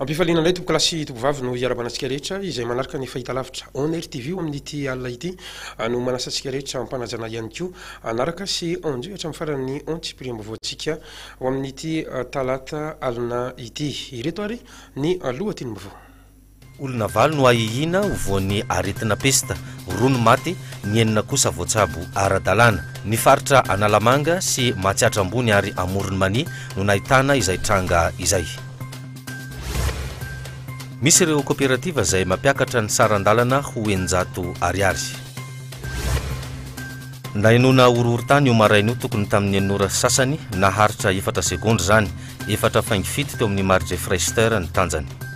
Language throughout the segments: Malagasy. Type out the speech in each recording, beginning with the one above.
Ampifaliana indray tompokolahy sy tompovavy no hiarabana antsika rehetra izay manaraka ny fahita lavitra On Air TV ao amin'ity alina ity ah, no manasa antsika rehetra ampanajana ihany koa anaraka ah, sy ondio hatramin'ny faran'ny on tsipiriam-baovaontsika ao amin'ity ah, talata alina ity. Ireto ary ny lohatenim-baovao. Olona valo no ahiahina ho voan'ny aretina pesta, roa no maty, ny enina kosa voatsabo ara-dalàna. Ny faritra Analamanga sy Matsiatra Ambony ary Amoron'i Mania no nahitana izay tranga izay. Misy ireo koperativa izay mampiakatra ny saran-dalana ho eninjato ariary. Nahenoana horohorontany io maraina io tokony tamin'ny enina ora sy sasany, naharitra efatra segondra izany. Efatra faingo fito teo amin'ny Marge Freyster ny tanjany.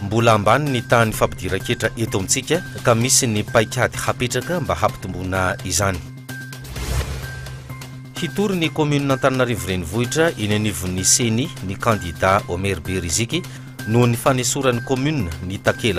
Mbola ambany ny tahan'ny fampidiran-ketra eto amintsika ka misy ny paikady hapetraka mba hampitomboana izany. Hitory ny kaominina Antananarivo Renivohitra eny anivon'ny Ceni ny kandida Omer Beriziky noho ny fanesoran'ny kaominina ny takela.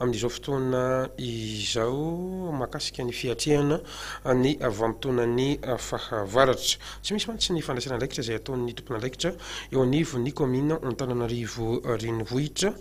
Amin'izao fotoana izao mahakasika ny fiatrehana ny vanim-potoanan'ny fahavaratra. Tsy misy mantsy ny fandraisana andraikitra izay ataon'ny tompon'andraikitra eo anivon'ny kaominina Antananarivo Renivohitra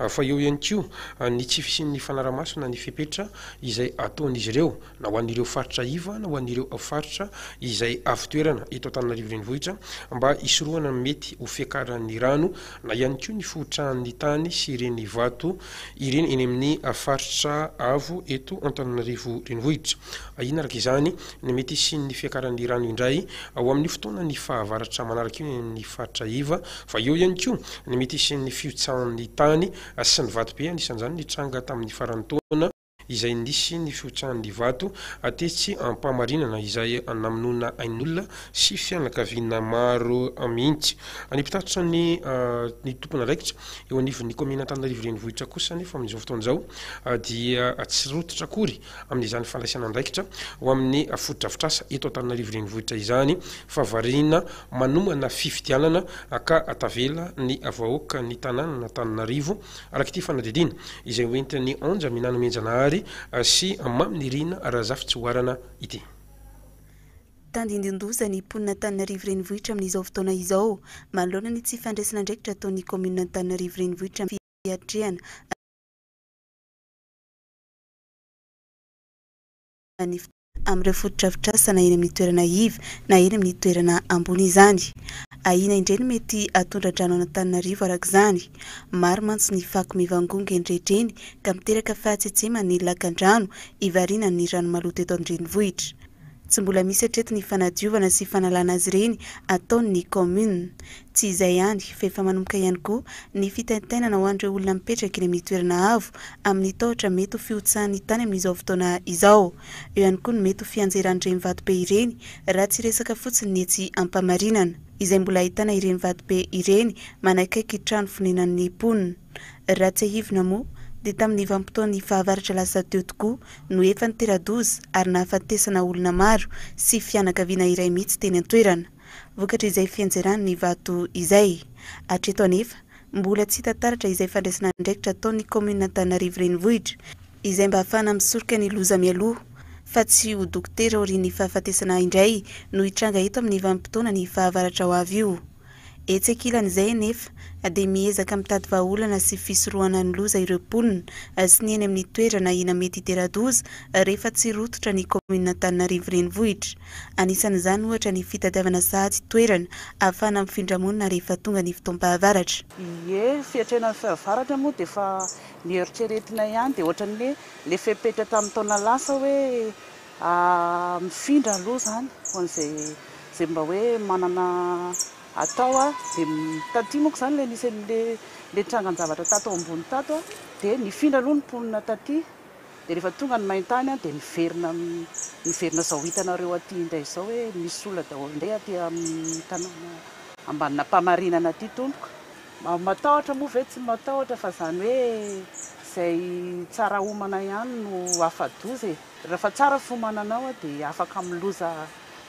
fa eo ihany koa ny tsy fisian'ny fanarahamaso na ny fepetra izay ataon'izy ireo na ho an'ireo faritra iva na ho an'ireo faritra izay avo toerana eto Antananarivo Renivohitra mba hisorohana ny mety ho fiakaran'ny rano na ihany koa ny fohotrahan'ny tany sy ireny vato ireny eny amin'ny faritra avo eto Antananarivo Renivohitra. Ahiana araka izany ny mety hisian'ny fiakaran'ny rano indray ho amin'ny fotoanan'ny fahavaratra manaraka io eny amin'ny faritra iva fa eo ihany koa ny mety hisian'ny fihotsahan'ny tany sy ny vato be anisan'izany ny tranga tamin'ny faran'ny taona izay nisy ny fihotsahan'ny vato tetsy Ampamarinana izay namonoana ain'olona sy fianakaviana maro mihitsy. Ny mpitatitra ny ny tompon'andraikitra eo anivon'ny kaominina Antananarivo Renivohitra kosa anefa amin'izao fotoana izao dia tsy rototra akory amin'izany fandraisana andraikitra ho amin'ny fotodrafitrasa eto Antananarivo Renivohitra izany fa variana manomana fifidianana ka tavela ny vahoakan'ny tanànan'Antananarivo Araka ity fanadihadiana izay ho entin'ny Anja Minana Mianjanahary sy Mamy Nirina Razafitsihoarana ity. Tandindonin-doza ny mponina Antananarivo Renivohitra amin'izao fotoana izao, manoloana ny tsy fandraisana andraikitra ataon'ny kaominina Antananarivo Renivohitra amin'ny fiatrehana ny ny amin'ireo fotodrafitrasa na eny amin'ny toerana iva na eny amin'ny toerana ambony izany. Ahiana indray ny mety hatondra-drano an'Antananarivo araka izany. Maro mantsy ny fako mivangongo eny rehetra eny ka miteraka fahatsiatseman'ny lakan-drano hivariana amin'ny rano maloto eto an-drenivohitra. Tsy mbola misy hatreto ny fanadiovana sy fanalana azy ireny ataon'ny kaominina. Tsy izay ihany fa efa manomboka ihany koa ny fitaintainana ho an'ireo olona mipetraka eny amin'ny toerana avo amin'ny tahotra mety ho fihotsahan'ny tany amin'izao fotoana izao. Eo ihany koa ny mety ho fianjeran'ireny vatobe ireny raha tsy resaka fotsiny ny etsy Ampamarinana izay mbola ahitana ireny vatobe ireny manakaiky trano fonenan'ny mponina. Raha tsiahivina moa dia tamin'ny vanim-potoan'ny fahavaratra lasa teo tokoa no efa nitera-doza ary nahafatesana olona maro sy fianakaviana iray mihitsy teny an-toerana. vokatr'izay fiantserany ny vato izay. Hatreto anefa, mbola tsy hita taratra izay fandraisana andraikitra ataon'ny kaominina Antananarivo Renivohitra izay mba hahafahana misoroka ny loza mialoha fa tsy ho dokotera aorian'ny fahafatesana indray no hitranga eto amin'ny vanim-potoana ny fahavaratra ho avy io. Etsy ankilan'izay anefa dia miezaka mitady vahaolana sy fisorohana ny loza ireo mponina sy ny eny amin'ny toerana ahina mety hitera-doza rehefa tsy rototra ny kaominina Antananarivo Renivohitra. Anisan'izany ohatra ny fitadiavana saha sy toerana ahafahana mifindra monina rehefa tonga ny fotoam-pahavaratra. Ie, fiatrenan'ny fahavaratra moa dia efa noeritreretina ihany, dia ohatran'ny hoe ilay fepetra tamin'ny taona lasa hoe mifindra aloha izany ho an'izay izay mba hoe manana atao a, dia taty monko izany ilay nisy an'ilay ilay trangan-javatra tato ambony tato a, dia nifindra aloha ny mponina taty. Dia rehefa tonga ny main-tany dia miverina miverina izao hitanareo aty indray izao hoe misy olona daholo indray aty amin'ny tanàna Ambanin'Ampamarinana aty tompoko. Matahotra moa ve tsy matahotra fa izany hoe izay tsara homana ihany no afa-doza e! Rehefa tsara fiomananao dia afaka amin'ny loza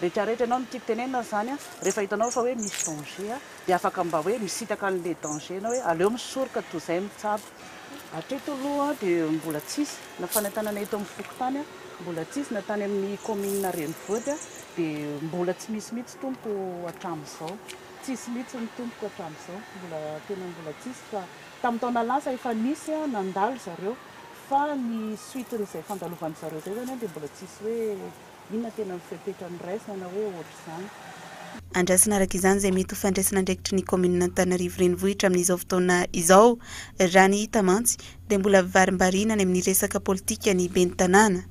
rehetrarehetra ianao. Ny tiako tenenina izany rehefa hitanao fa hoe misy danger dia afaka mba hoe misintaka an'ilay danger ianao hoe aleo misoroka toy izay mitsabo. Hatreto aloha dia mbola tsisy na fanentanana eto amin'ny fokontany mbola tsisy na tany amin'ny kaominina renivohitra dia mbola tsy misy mihitsy tompoko hatramin'izao tsisy mihitsy ny tompoko hatramin'izao mbola tena mbola tsisy fa tamin'ny taona lasa efa nisy nandalo zareo fa ny suite-n'izay fandalovan'izareo izay zany dia mbola tsisy hoe Inona tena ny fepetra niraisana hoe ohatr'izany? Andrasana araka izany izay mety ho fandraisan'andraikitry ny kaominina Antananarivo Renivohitra amin'izao fotoana izao. Raha ny hita mantsy dia mbola varimbariana any amin'ny resaka politika ny ben'ny tanàna.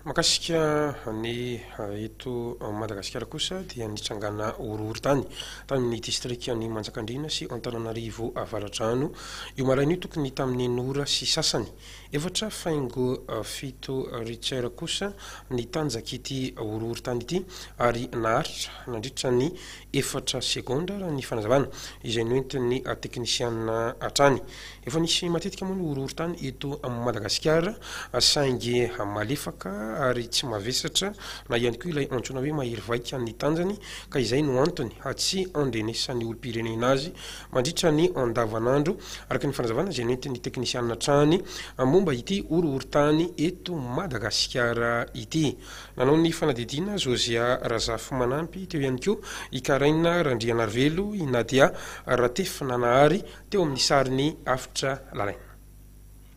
Mahakasika ny eto Madagasikara kosa dia nitrangana horohorontany tany amin'ny distrikan'i Manjakandriana sy Antananarivo Avaradrano io maraina io tokony tamin'ny en'ora sy sasany Efatra faingo fito Richter kosa nitanjaka ity horohorontany ity ary naharitra nandritra ny efatra segondra raha ny fanazavana izay noentin'ny teknisiana hatrany. Efa nisy matetika moa ny horohorontany eto Madagasikara saingy malefaka ary tsy mavesatra na ihany koa ilay antsoina hoe mahery vaika ny tanjany ka izay no antony tsy andrenesan'ny olom-pirenena azy mandritra ny andavanandro, araka ny fanazavana izay nentin'ny teknisianina hatrany momba ity horohorontany eto Madagasikara ity. Nanao ny fanadihadiana Josiah Razafimanampy, teo ihany koa i Karaina Randrianarivelo, i Nadia Ratefinanahary teo amin'ny sarin'i Afitra Lalaina.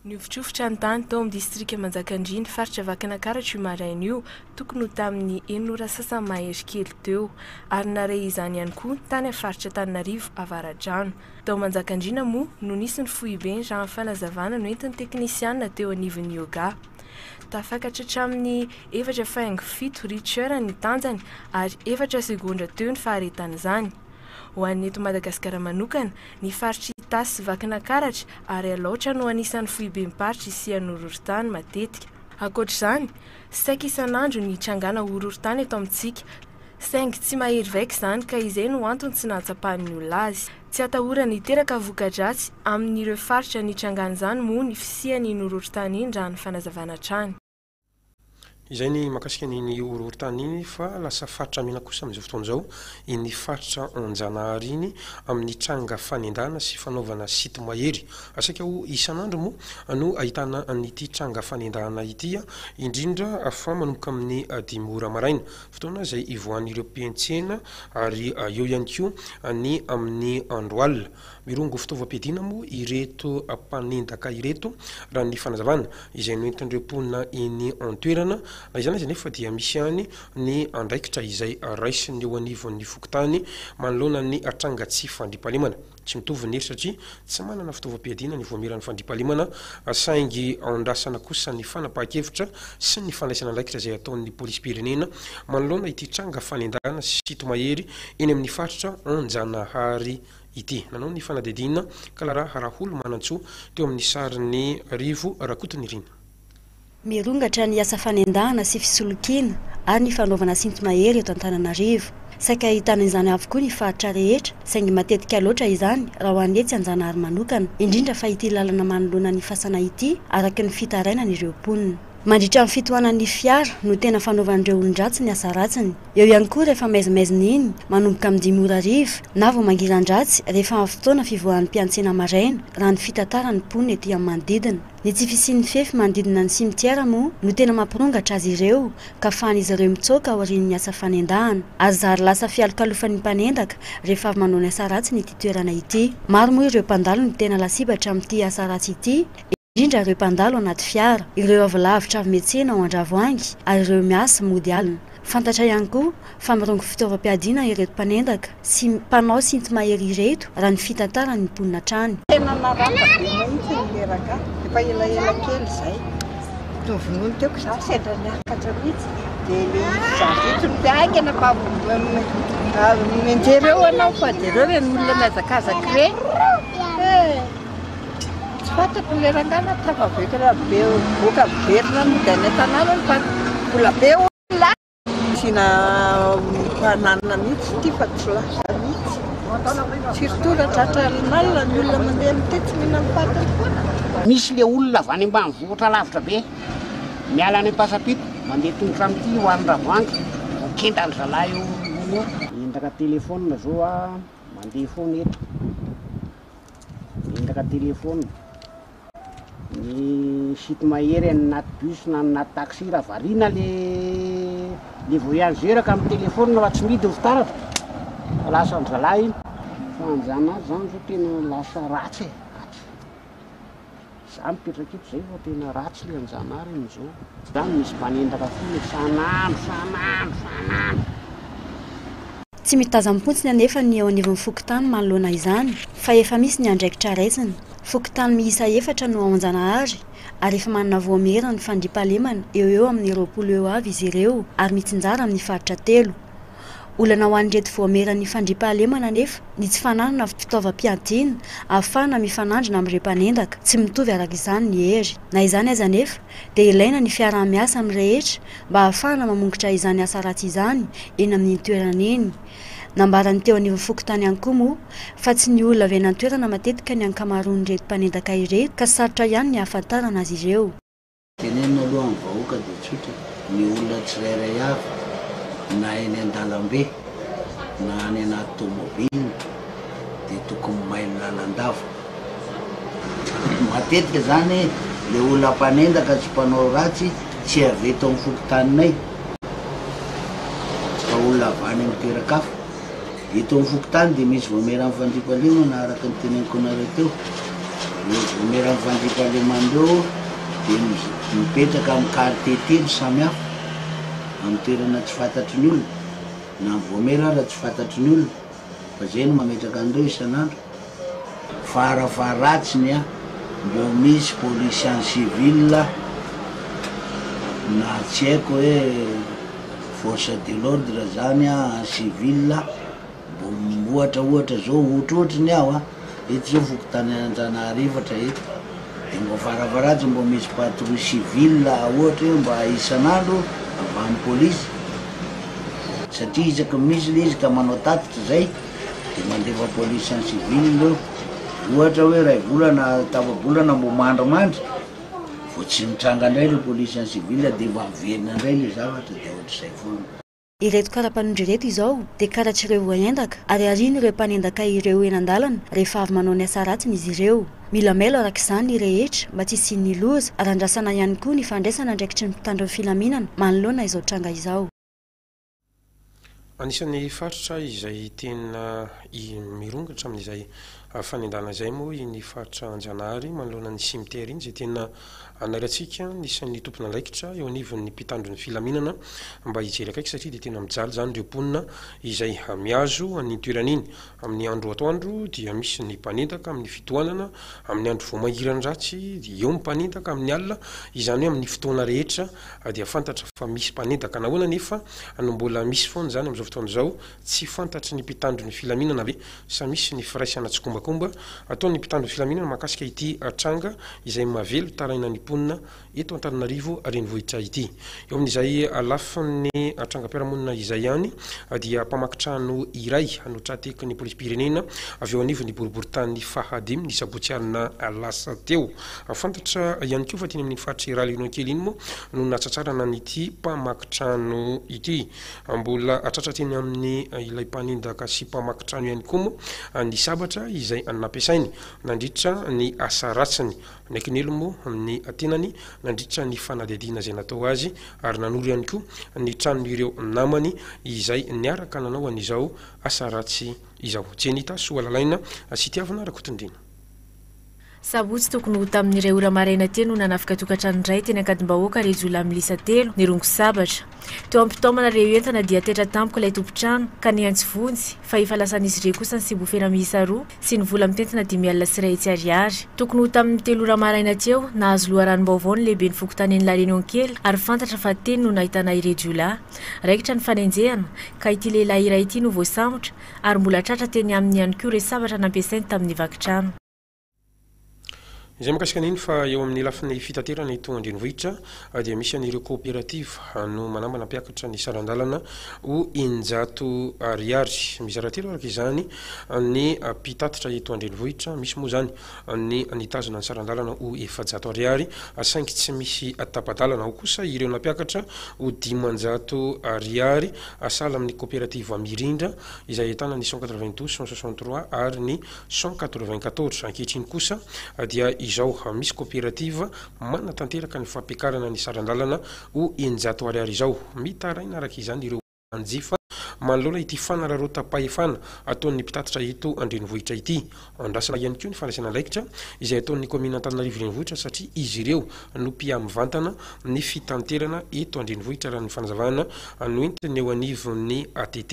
Nihofotrofotra ny tany tao amin'ny distrika Manjakandriana, faritra Vakinakaratra io maraina io, tokony ho tamin'ny enina ora sasany mahery kely teo, ary nare izany ihany koa tany amin'ny faritra Antananarivo Avaradrano. Tao Manjakandriana moa no nisy ny foibeny raha ny fanazavana noentin'ny teknisianina teo anivon'ny Yoga. Tafakatra hatramin'ny efatra faingo fito Richter ny tanjany ary efatra segondra teo ny faharetan'izany. Ho an'ny eto Madagasikara manokana, ny faritr'i Itasy sy Vakinakaratra ary Alaotra no anisan'ny foibem-paritra isian'ny horohorontany matetika. Ankoatra izany, saika isan'andro ny trangàna horohorontany eto amintsika, saingy tsy mahery vaika izany ka izay no antony tsy nahatsapan'ny olona azy. Tsy atahorana hiteraka voka-dratsy amin'ireo faritra nitrangàn'izany moa ny fisian'iny horohorontany iny raha ny fanazavana hatrany. Izay ny mahakasika an'iny horohorontany iny fa lasa faritra mena kosa amin'izao fotoana izao iny faritra Anjanahary iny amin'ny tranga fanendahana sy fanaovana site mahery. Saika ho isan'andro moa no ahitana an'ity tranga fanendahana ity indrindra fa manomboka amin'ny dimy ora maraina, fotoana izay ivoahan'ireo mpiantsena ary eo ihany koa ny amin'ny andro alina. Mirongo fitaovam-piadiana moa ireto mpanendaka ireto, raha ny fanazavana izay noentin'ireo mponina eny an-toerana. Na izany aza anefa dia misy ihany ny andraikitra izay raisiny eo anivon'ny fokontany manoloana ny tranga tsy fandriampahalemana. Tsy mitovy ny hery satria tsy manana fitaovam-piadiana ny Vaomieran'ny Fandriampahalemana saingy andrasana kosa ny fanapahan-kevitra sy ny fandraisana andraikitra izay ataon'ny Polisim-pirenena manoloana ity tranga fanendahana sy tomahery Eny amin'ny faritra Anjanahary ity. Nanao ny fanadihadiana Clara Raholomanantsoa teo amin'ny sarin'i Rivo Rakotonirina. Mirongatra ny asa fanendahana sy fisolokiana ary ny fanaovana sinto-mahery eto Antananarivo. Saika ahitana izany avokoa ny faritra rehetra saingy matetika loatra izany raha ho an'ny etsy Anjanahary manokana, indrindra fa ity lalana manoloana ny fasana ity, araka ny fitarainan'ireo mponina. Mandritra ny fitohanan'ny fiara no tena fanaovan'ireo olon-dratsy ny asa ratsiny. Eo ihany koa rehefa maizimaizina iny, manomboka amin'ny dimy ora hariva, na vao mangiran-dratsy rehefa amin'ny fotoana fivoahan'ny mpiantsena maraina, raha ny fitantaran'ny mponina ety amin'ny manodidina. Ny tsy fisian'ny fefy manodidina ny simitiera moa no tena mampirongatra azy ireo, ka afahan'izy ireo mitsoaka aorian'ny asa fanendahana. Ary zary lasa fialokalofan'ny mpanendaka rehefa avy manao ny asa ratsiny ity toerana ity. Maro moa ireo mpandalo no tena lasibatra amin'ity asa ratsy ity. indrindra ireo mpandalo anaty fiara, ireo avy lavitra avy miantsena ao Andravoahangy ary ireo miasa mody alina. Fantatra ihany koa fa mirongo fitaovam-piadiana ireto mpanendaka sy mpanao sinto-mahery ireto, raha ny fitantaran' ny mponina hatrany. Tena naratra be mahitsy ny reraka, efa elaela kely izay no vonoiny teo ka izaho sendra niakatra mihitsy dia le izy zary reto no te haingana fa mianjera eo ianao fa jereo ireny olona mihazakazaka ireny eh! Tsy fantako ilay rangahy na tafavoaka rabevoka miverina any dia any an-tanàna any fa mbola be olona any. Asiana fananana mihitsy ity fa tsy lasa mihitsy. Firy tour tratra alin'alina ny olona mandeha amin'ity tsy mihinan'ny patiny foana. Misy le olona avy any ambanivohitra lavitra be miala any Ampasampito mandeha tongotra amin'ity ho any Ravoandry vao kenda ry zalahy eo io. Miendaka telephone zao a, mandeha foana eto. Vendraka téléphone. Ny site mahery an'ny naty bus na ny naty taxi raha variana le le voyageur ka mitelefona fa tsy midiny fitaratra. Lasa an zalahy iny. Fanajanaja zany zao tena lasa ratsy e. Za mipetraka eto zay vao tena ratsy le anjanahary amizao. Zany misy mpanendaka fona isan'andro san'andro san'andro. Tsy mitazam-pontsiny anefa ny eo anivon'ny fokontany manoloana izany fa efa misy ny andraikitra raisina. Fokontany miisa efatra no ao Anjanahary ary efa manana vaomieran'ny fandriampahalemana eo ho eo amin'ny roapolo eo avy izy ireo ary mitsinjara amin'ny faritra telo. Olana ho an'ireto voameran'ny fandriampahalemana anefa ny tsy fananana fitaovam-piadiana ahafahana mifanandrina amin'ireo mpanendaka tsy mitovy araka izany ny hery. Na izany aza anefa dia ilaina ny fiaraha-miasa amin'ny rehetra mba ahafahana mamongitra izany asa ratsy izany eny amin'iny toerana iny. Nambaran'ny teo anivon'ny fokontany ihany koa moa fa tsy ny olona avy any an-toerana matetika ny ankamaroan'ireto mpanendaka ireto ka sarotra ihany ny ahafantarana azy ireo. Tenenina aloha amin'ny vahoaka dia tsotra, ny olona tsirairay avy na eny an-dalambe na any anaty tomobiliny dia tokony mailo lalandava. Matetika izany ilay olona mpanendaka sy mpanao ratsy tsy avy eto amin'ny fokontaninay fa olona avy any amin'ny toeran-kafa. Eto amin'ny fokontany dia misy voamieran'ny fandriampahalemana araka ny teneniko anareo teo. Ireo voamieran'ny fandriampahalemana ireo dia mipetraka amin'ny quartier telo samy hafa, amin'ny toerana tsy fantatry ny olona, na ny voamiera ara tsy fantatry ny olona, fa izay no mametraka an'ireo isan'andro. Varavaratsiny a! Mbô misy polisy any civil a! Na tsy haiko hoe force de l'ordre zany a any civil a! Mbô ohatra ohatra zao ohatrohatry ny aho a! Eto zao fokontany Antananarivotra eto de mbô varavaratsiny mbô misy patrouille civil ohatra hoe mba isan'andro avy any polisy satria isaky ny misy le izy ka manao tatitra zay. Dia mandefa police en civil ireo. Ohatra hoe iray volana, tapa-bolana mbo mandrimandry, vao tsy mitranga indray ilay police en civil dia mba miverina indray ilay zavatra dia ohatr'izay foana. Ireto kara-panondro ireto izao dia karatr'ireo voaendaka ary arian'ireo mpanendaka ireo eny an-dalana rehefa avy manao ny asa ratsiny izy ireo. Mila mailo araka izany ny rehetra mba tsy hisian'ny loza ary andrasana ihany koa ny fandraisana andraikitry ny mpitandro ny filaminana manoloana izao tranga izao. Anisan'ny faritra izay tena mirongatra amin'izay fanendahana izay moa iny faritra Anjanahary manoloana ny cimetière iny izay tena anaratsika ny isan'ny tompon'andraikitra eo anivon'ny mpitandro ny filaminana mba hijery akaiky satria dia tena mijaly izany ireo mponina izay mihazo an'iny toerana iny. Amin'ny andro atoandro dia misy ny mpanendaka amin'ny fitohanana, amin'ny andro vao mangiran'ny ratsy dia eo ny mpanendaka, amin'ny alina, izany hoe amin'ny fotoana rehetra dia fantatra fa misy mpanendaka. Nahoana anefa no mbola misy foana izany amin'izao fotoana izao? Tsy fantatry ny mpitandro ny filaminana ve sa misy ny firaisana tsikombakomba ataon'ny mpitandro ny filaminana mahakasika ity tranga izay mahavelon-taraina ny mponina eto Antananarivo renivohitra ity. Eo amin'izay lafiny trangam-piarahamonina izay ihany dia mpamaky trano iray no tra-teky ny polisim-pirenena avy eo anivon'ny boriborintany fahadimy ny sabotsy alina lasa teo. Fantatra ihany koa fa teny amin'iny faritry Ralionon kely iny moa no nahatratrarana an'ity mpamaky trano ity. Mbola tratra teny amin'ny ilay mpanendaka sy mpamaky trano ihany koa moa ny sabatra izay nampiasainy nandritra ny asa ratsiny Ny Kinelo moa amin'ny tenany nandritra ny fanadihadiana izay natao azy ary nanoro ihany koa ny tranon'ireo namany izay niaraka nanao an'izao asa ratsy izao. Jenita Soalalaina sy Itiavana Rakotondriana. Sabotsy tokony ho tamin'ny iray ora maraina teny no nanafika tokantrano iray teny Ankadimbahoaka ireo jiolahy miisa telo nirongo sabatra. Teo am-pitaomana ireo entana dia taitra tampoka ilay tompon-trano ka nihantsy vonjy fa efa lasan'izy ireo kosa ny siobofera miisa roa sy ny vola mitentina dimy alina sy iray hetsy ariary. Tokony ho tamin'ny telo ora maraina teo, nahazo loharanom-baovao ny lehiben'ny fokontanin'i La Réunion kely ary fantatra fa teny no nahitana ireo jiolahy. Raikitra ny fanenjehana ka ity lehilahy iray ity no voasambotra ary mbola tratra teny aminy ihany koa ireo sabatra nampiasainy tamin'ny vaky trano. Izay mikasika an'iny fa eo amin'ny lafiny fitaterana eto an-drenivohitra dia misy an'ireo coopérative no manambana mpiakatra ny saran-dalana ho eninjato ariary. Mizara telo araka izany ny mpitatitra eto an-drenivohitra, misy moa izany ny nitazona ny saran-dalana ho efajato ariary saingy tsy misy tapa-dalana, ao kosa ireo nampiakatra ho dimanjato ariary sahala amin'ny coopérative Mirindra izay ahitana ny cent quatre-vingt-douze, cent soixante-trois ary ny cent quatre-vingt-quatorze Ankehitriny kosa dia izao misy koperativa manatanteraka ny fampiakarana ny saran-dalana ho eninjato ariary izao. Mitaraina araka izany ireo mpanjifa manoloana ity fanararaotam-pahefana ataon'ny mpitatitra eto an-drenivohitra ity. Andrasana ihany koa ny fandraisana andraikitra izay ataon'ny kaominina Antananarivo Renivohitra satria izy ireo no mpiamvantana ny fitanterana eto an-drenivohitra raha ny fanazavana noentin'ny eo anivon'ny ATT.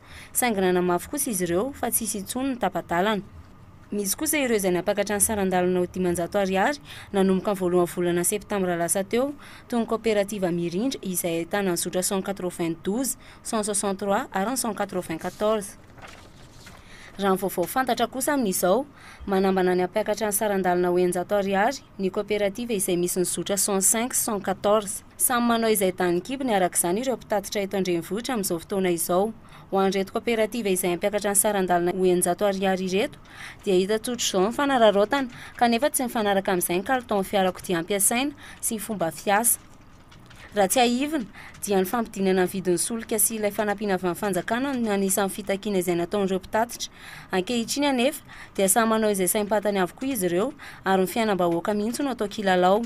saingy nanamafy kosa izy ireo fa tsy hisy intsony ny tapa-dalana. Misy kosa ireo izay nampakatra ny saran-dalana ho dimanjato ariary nanomboka ny voalohan'ny volana septambra lasa teo, toy ny kaoperativa Mirindra izay ahitana ny zotra cent quatre-vingt-douze, cent soixante-trois ary ny cent quatre-vingt-quatorze. Raha ny vaovao fantatra kosa amin'izao, manambana ny hampiakatra ny saran-dalana ho eninjato ariary ny kaoperativa izay misy ny zotra cent cinq sy cent quatorze. Samy manao izay danin'ny kibony araka izany ireo mpitatitra eto an-drenivohitra amin'izao fotoana izao. Ho an'ireto kaoperativa izay hampiakatra ny saran-dalana ho eninjato ariary ireto dia hita tsotra izao ny fanararaotana kanefa tsy mifanaraka amin'izay ny kalitaon'ny fiarakodia ampiasaina sy ny fomba fiasa. Raha tsiahivina dia ny fampidinana ny vidin'ny solika sy ilay fanampiana avy amin'ny fanjakana no anisan'ny fitakiana izay nataon'ireo mpitatitra. Ankehitriny anefa dia samy manao izay saim-pantany avokoa izy ireo ary ny fiainam-bahoaka mihitsy no atao kilalao.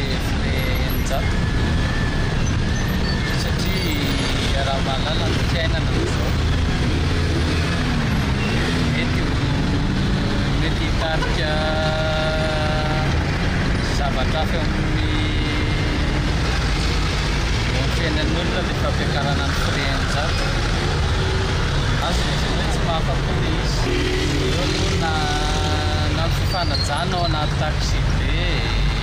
Heviny eninjato satria iaraha-mahalala ny fiainana amin'izao. Mety ho mety hitarika zavatra hafa eo amin'ny eo amin'ny fiainan'olona ny fampiakarana ny prix eninjato. Azony lazaina hoe tsy mahafa-po le izy. Eo aloha na na ny fifanajana ao anaty taxi be e.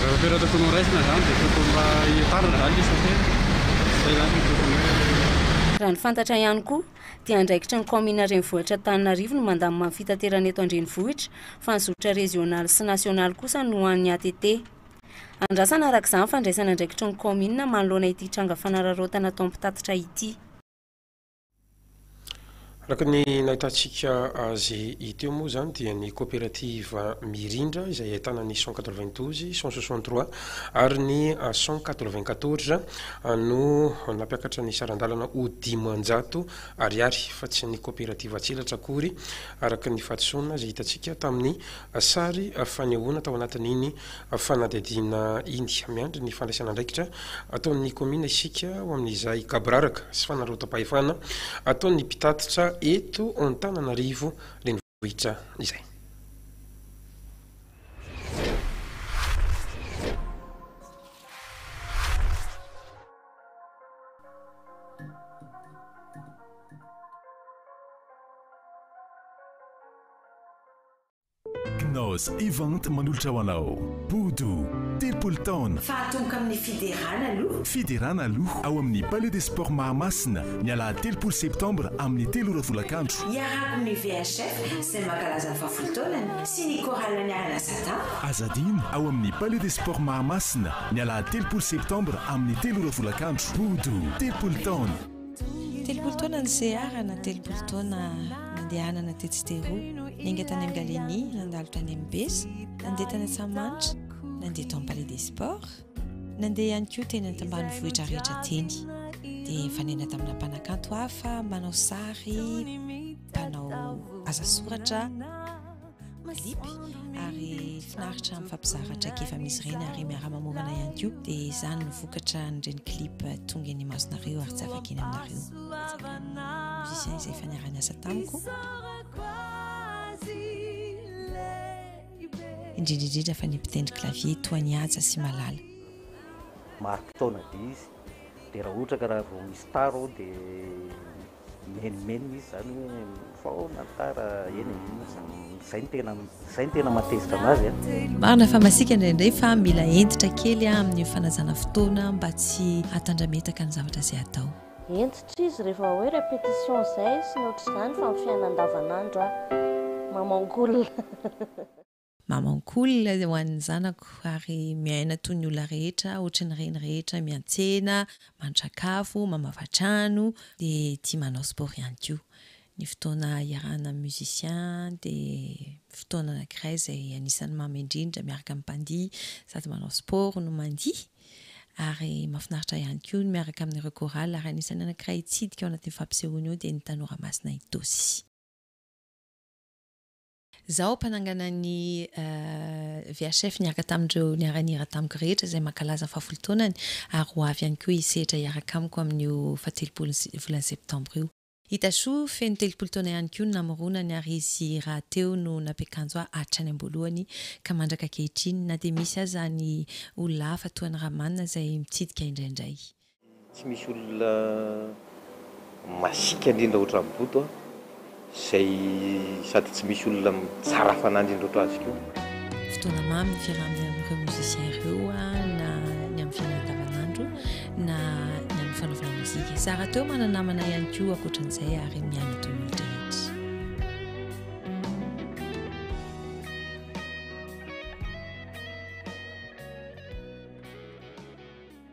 Raha toerana tokony ho raisina izany dia tokony mba hitarina izany ny isa telo, izay izany no tokony hoe. Raha ny fantatra ihany koa dia andraikitry ny kaominina renivohitra Antananarivo ny mandamina ny fitaterana eto an-drenivohitra fa ny zotra rezionaly sy nasionaly kosa no ho an'ny ATT. Andrasana araka izany ny fandraisana andraikitry ny kaominina manoloana ity tranga fanararaotana atao ny mpitatitra ity. Araka ny nahitantsika azy teo moa izany dia ny coopérative Mirindra izay ahitana ny cent quatre-vingt-douze, cent soixante-trois ary ny cent quatre-vingt-quatorze no nampiakatra ny saran-dalana ho dimanjato ariary fa tsy ny coopérative Antselatra akory araka ny fahadisoana izay hitantsika tamin'ny sary fanehoana tao anatin'iny Fanadihadiana India, Miandry ny fandraisana andraikitra ataon'ny kaominina isika ho amin'izay gaboraraka sy fanararaotam-pahefana ataon'ny mpitatitra eto Antananarivo Renivohitra izay. Knaus Event manolotra ho anao Bodo, telopolo taona. Fahatomboka amin'ny Fiderana aloha. Fiderana aloha ao amin'ny Palais des Sports Mahamasina, ny alahady telopolo septambra amin'ny telo ora tolakandro. Iarahako amin'ny VHF izay mankalaza ny fahafolo taonany sy ny Chorale Aniarana Satan. Aza adino, ao amin'ny Palais des Sports Mahamasina, ny alahady telopolo septambra amin'ny telo ora tolakandro. Bodo, telopolo taona. Telopolo taona niseharana, telopolo taona nandehanana tetsy teroa, niainga tany amin'ny Galeni, nandalo tany amin'ny Besa, nandeha tany Antsahamanitra, nandeha tao amin'ny Palais des Sports, nandeha ihany koa teny an-tambanivohitra rehetra teny. Dia nifanena tamina mpanakanto hafa, manao sary, mpanao asa soratra. mazipy ary finaritra mifampizara traikefa misy ireny ary miara-mamorana ihany koa dia izany ny vokatra nireny clip tonga eny masonareo ary tsy afaka eny aminareo musicien izay fanarany asa tamiko indrindrindrindra fa ny mpitendry clavier toa ny haja sy malala maro-potoana dia izy dia raha ohatra ka raha vao misy taro dia Mimenomenona izy izany hoe mifohaona ny tara eny e, iny izany, izay no tena, izay no tena mahatezitra an'azy a. Marina fa masiaka indraindray fa mila hentitra kely amin'ny fanajana fotoana mba tsy hatandrametaka ny zavatra izay atao. Hentitra izy rehefa hoe répétition izay sy ny ohatr'izany fa amin'ny fiainana andavanandro aho mamango olona. Mamankolona ho an'ny zanako ary miaina toy ny olona rehetra, ohatry ny reny rehetra, miantsena, mandry-sakafo, mamafa trano, dia tia manao sport ihany koa. Ny fotoana iarahana amin'ny musiciens dia fotoana anankiray izay anisan'ny mamy indrindra miaraka amin'ny mpandihy sady manao sport no mandihy ary mahafinaritra ahy ihany koa ny miaraka amin'ireo chorales ary anisan'ny anankiray hitsidika ao anatin'io fampisehoana io dia ny Tanora Masina Itosi. Izaho mpanangana ny VHF niaraka tamin'ireo niara-nihira tamiko rehetra izay mankalaza ny fahafolo taonany ary ho avy ihany koa hisehatra hiaraka amiko amin'io fahatelopolin'ny volana septambra io. I Tachoo, feno telopolo taona ihany koa no namoronany ary izy rahateo no nampiakanjo ahy hatrany am-boalohany ka mandraka ankehitriny na dia misy aza ny olona hafa toa an'i Rahman izay mitsidika indraindray. Tsy misy olona masiaka indrindra ohatran'i Boto an, izay sady tsy misy olona tsara fanahy indrindra ohatra azy koa. Fotoana mamy ny fiaraha-miaina amin'ireo musiciens ireo na ny amin'ny fiainana andavanandro na ny amin'ny fanaovana mozika. Izaho rahateo manana namana ihany koa ankoatran'izay ary miaina toy ny rehetra.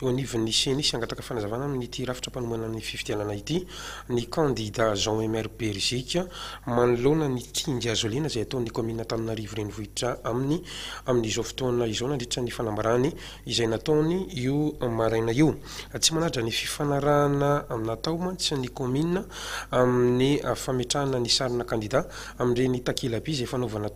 Eo anivon'ny Ceni sy hangataka fanazavana amin'ity rafitra mpanomana ny fifidianana ity ny kandida Jean Emer Berziky manoloana ny kinga hazolena izay ataon'ny kaominina Antananarivo Renivohitra aminy amin'izao fotoana izao nandritra ny fanambarany izay nataony io maraina io. Tsy manaja ny fifanarahana natao mantsy ny kaominina amin'ny fametrahana ny sarina kandida amin'ireny takelaby izay fanaovana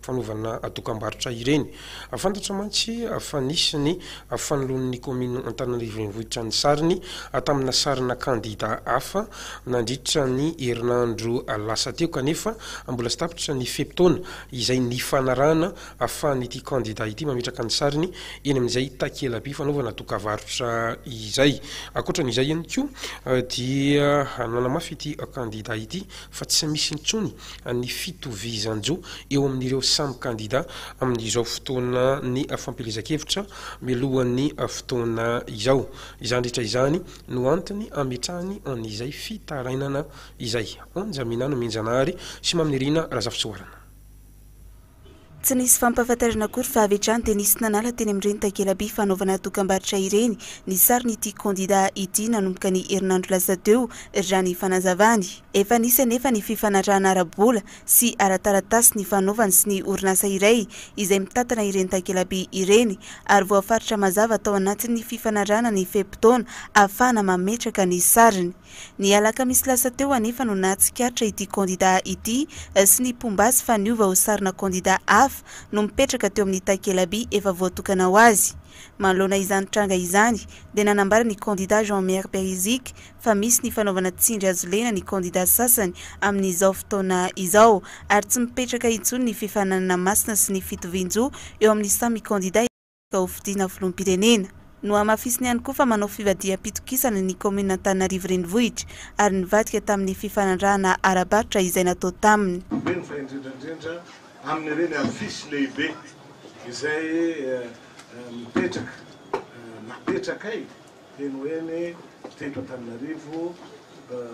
fanaovana dokam-barotra ireny. Fantatra mantsy fa nisy ny fanoloan'ny kaominina Antananarivo Renivohitra ny sariny tamina sarina kandida hafa nandritra ny herinandro lasa teo kanefa mbola tsy tapitra ny fe-potoana izay nifanarahana ahafahan'ity kandida ity mametraka ny sariny eny amin'izay takela-by fanaovana dokavarotra izay. Ankoatra an'izay ihany koa dia nanamafy ity kandida ity fa tsy misy intsony ny fitovizan-jo eo amin'ireo samy kandida amin'izao fotoanan'ny fampielezan-kevitra mialohan'ny fotoana izao. Izany rehetra izany no antony ametrahany an'izay fitarainana izay. Anja Minanomenjanahary sy Mamy Nirina Razafisoarana. Tsy nisy fampahafantarana akory fa avy hatrany dia nisy nanala teny amin'ireny takela-by fanaovana dokam-barotra ireny ny sarin'ity kandidà ity nanomboka ny herinandro lasa teo, raha ny fanazavany. Efa nisy anefa ny fifanarahana ara-bola sy ara-taratasy nifanaovany sy ny orinasa iray izay mitantana ireny takela-by ireny ary voafaritra mazava tao anatin'ny fifanarahana ny fe-potoana ahafahana mametraka ny sariny. Ny alakamisy lasa teo anefa no nahatsikaritra ity kandida ity sy ny mpomba azy fa niova ho sarina kandida hafa no mipetraka teo amin'ny takelaby efa voatokana ho azy. Manoloana izany tranga izany dia nanambara ny kandida Jean Miary Beriziky fa misy ny fanaovana tsindry hazo lena ny kandida sasany amin'izao fotoana izao ary tsy mipetraka intsony ny fifaninanana masina sy ny fitovian-jo eo amin'ny samy kandida vao fidiana filoham-pirenena. Nohamafisiny ihany koa fa manao fivadiham-pitokisana ny kaominina Antananarivo Renivohitra ary nivadika tamin'ny fifanarahana ara-barotra izay natao taminy. Mino fa indrindra indrindra amin'ireny afisy lehibe izay mipetraka napetrakay eny ho eny teto Antananarivo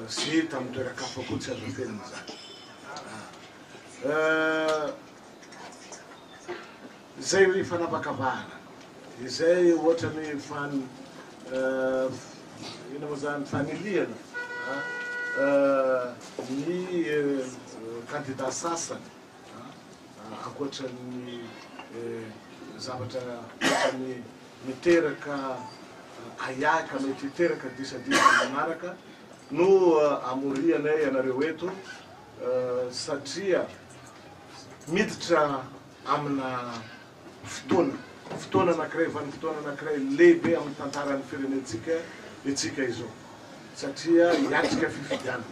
sy tamin'ny toeran-kafa koa tsy azo afenina izany. Zay ry fanavakavahana izay ohatrany fan inona moa zany fanilihana ny kandida sasany ankoatran'ny zavatra ohatrany miteraka ahiahy mety hiteraka disadisa manaraka no amorianay anareo eto satria miditra amina fotoana fotoana anankiray vanim-potoana anankiray lehibe amin'ny tantaran'ny firenentsika itsika izao satria hiatrika fifidianana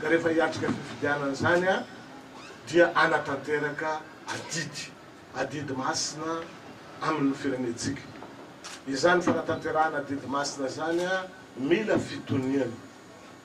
ka rehefa hiatrika fifidianana izany a dia anatanteraka adidy adidy masina amin'ny firenentsika izany fanatanterahana adidy masina izany a mila fitoniana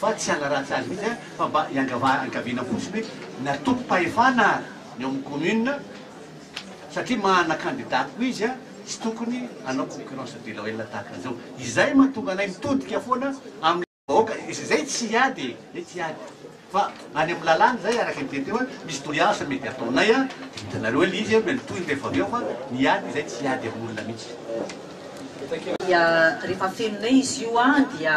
fa tsy hanaratsy azy mihitsy aho fa mba hiangavana fotsiny hoe ny antokom-pahefana ny ao amin'ny commune satria manana candidat koa izy tsy tokony hanao concurrence deloyale tahaka an'izao izay mahatonga anay mitodika foana amin'ny vahoaka izy izay tsy hiady e izay tsy hiady fa any amin'ny lalàna izay araka ny teny teo hoe misy tohiasa mety ataonay a hitanareo hoe izy no mitohy rehefa avy eo fa ny hiady izay tsy hiady amin'olona mihitsy dia rehefa afeninay izy io a dia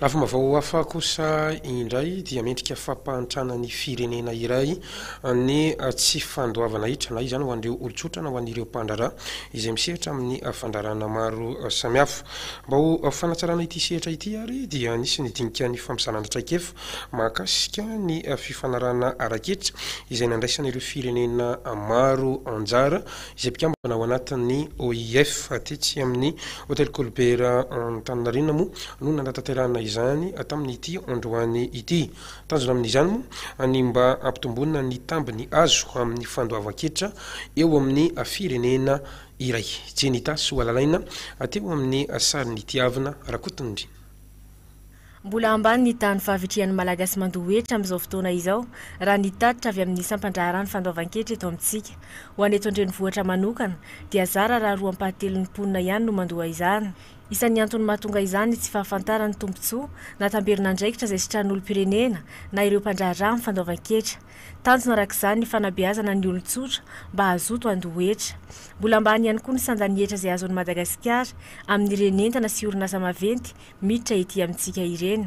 Lafim baovao hafa kosa indray dia mendrika fampahantrana ny firenena iray ny tsy fandoavana ahitra na izany ho an'ireo olon-tsotra na ho an'ireo mpandraharaha izay misehatra amin'ny fandraharahana maro samihafa. Mba ho fanatsarana ity sehatra ity ary dia nisy ny dinika nifampizana ny traikefa mahakasika ny fifanarahana ara-ketra izay nandraisan'ireo firenena maro anjara izay mpikambana ao anatin'ny OIF, tetsy amin'ny Hotely Colbert Antaninarenina moa no nanatanterahana izany tamin'ity androany ity. Tanjona amin'izany moa ny mba hampitomboana ny tambiny azo amin'ny fandoavan-ketra eo amin'ny firenena iray. Jenny Tasihoalalaina teo amin'ny sarin'i Tiavina Rakotondry. Mbola ambany ny tahan'ny fahavitrihan'ny Malagasy mandoa hetra amin'izao fotoana izao, raha ny tatitra avy amin'ny sampan-draharahan'ny fandoavan-ketra eto amintsika. Ho an'ny eto an-drenivohitra manokana, dia zara raha roa ampahatelon'ny mponina ihany no mandoa izany. Isan'ny antony mahatonga izany ny tsy fahafantarany ny tombontsoa na tamberin'andraikitra izay sitran'ny olom-pirenena na ireo mpandraharaha amin'ny fandoavan-ketra. Tanjona araka izany ny fanabeazana ny olon-tsotra mba hazoto handoa hetra. Mbola ambany ihany koa ny sandan'ny hetra izay azon'i Madagasikara amin'ireny entana sy orinasa maventy miditra ety amintsika ireny.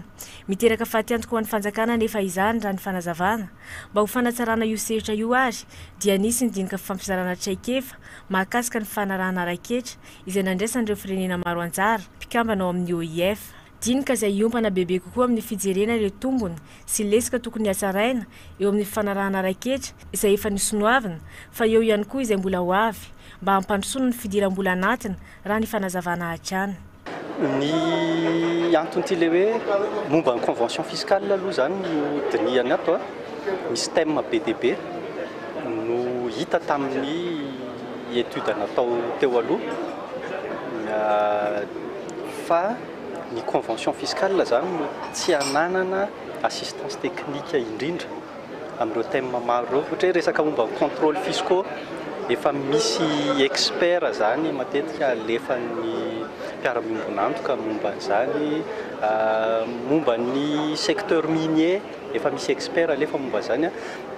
Miteraka fatiantoka ho an'ny fanjakana anefa izany raha ny fanazavana. Mba ho fanatsarana io sehtra io ary dia nisy ny dinika fifampizarana traikefa mahakasika ny fanarahana ara-ketra izay nandraisan'ireo firenena maro anjara mpikambana ao amin'ny OIF. Dinika izay hiompana bebe kokoa amin'ny fijerena ireo tombony sy lesoka tokony hatsaraina eo amin'ny fifanarahana raiketra izay efa nosonoavina fa eo ihany koa izay mbola ho avy mba hampandrosoana ny fidiram-bola anatiny raha ny fanazavana hatrany. Ny anton'ity ilay hoe momba ny convention fiscale aloha izany no dinihana ato a. Misy thème be dia be no hita tamin'ny étude natao teo aloha. fa ny convention fiscale izany no tsy ananana assistance technique indrindra amin'ireo thème maro ireo, ohatra hoe resaka momba ny contrôles fiscaux, efa misy experts izany matetika alefan'ny mpiara-miombon'antoka momba an'izany, momba ny secteur minier efa misy experts alefa momba izany,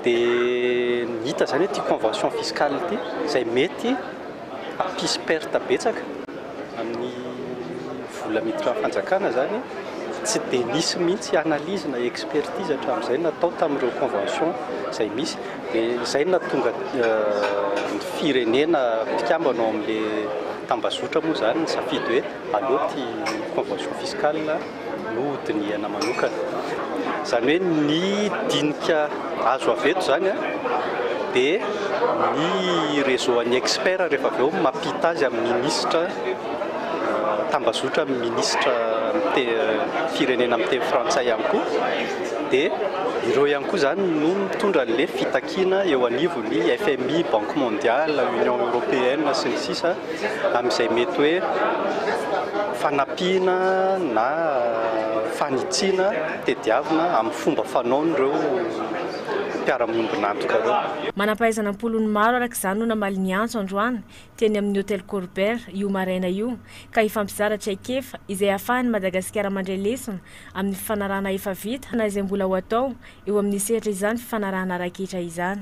dia hita izany hoe ity convention fiscale ity izay mety hampisy perte betsaka. amin'ny vola miditra amin'ny fanjakana izany tsy dia nisy mihitsy analyse na expertise hatramin'izay natao tamin'ireo convention izay misy dia izay no nahatonga ny firenena mpikambana ao amin'ilay tambazotra moa izany nisafidy hoe aleo ity convention fiscale no ho dinihana manokana. Izany hoe ny dinika azo avy eto izany dia ny réseau an'ny experts rehefa avy eo mampita azy amin'ny minisitra tambazotra amin'ny minisitra firenena miteny frantsay ihany koa dia ireo ihany koa izany no mitondra an'ilay fitakiana eo anivon'ny FMI, Banque Mondiale, Union Européenne sy ny sisa. amin'izay mety hoe fanampiana na fanitsiana tediavina amin'ny fomba fanaon'ireo mpiara-miombon'antoka ireo. Manam-pahaizana am-polony maro araka izany no namaly ny antso androany teny amin'ny Hotel Colbert io maraina io ka hifampizara traikefa izay hahafahan'i Madagasikara mandray lesona amin'ny fifanarahana efa vita na izay mbola ho atao eo amin'ny sehatra izany fifanarahana raikitra izany.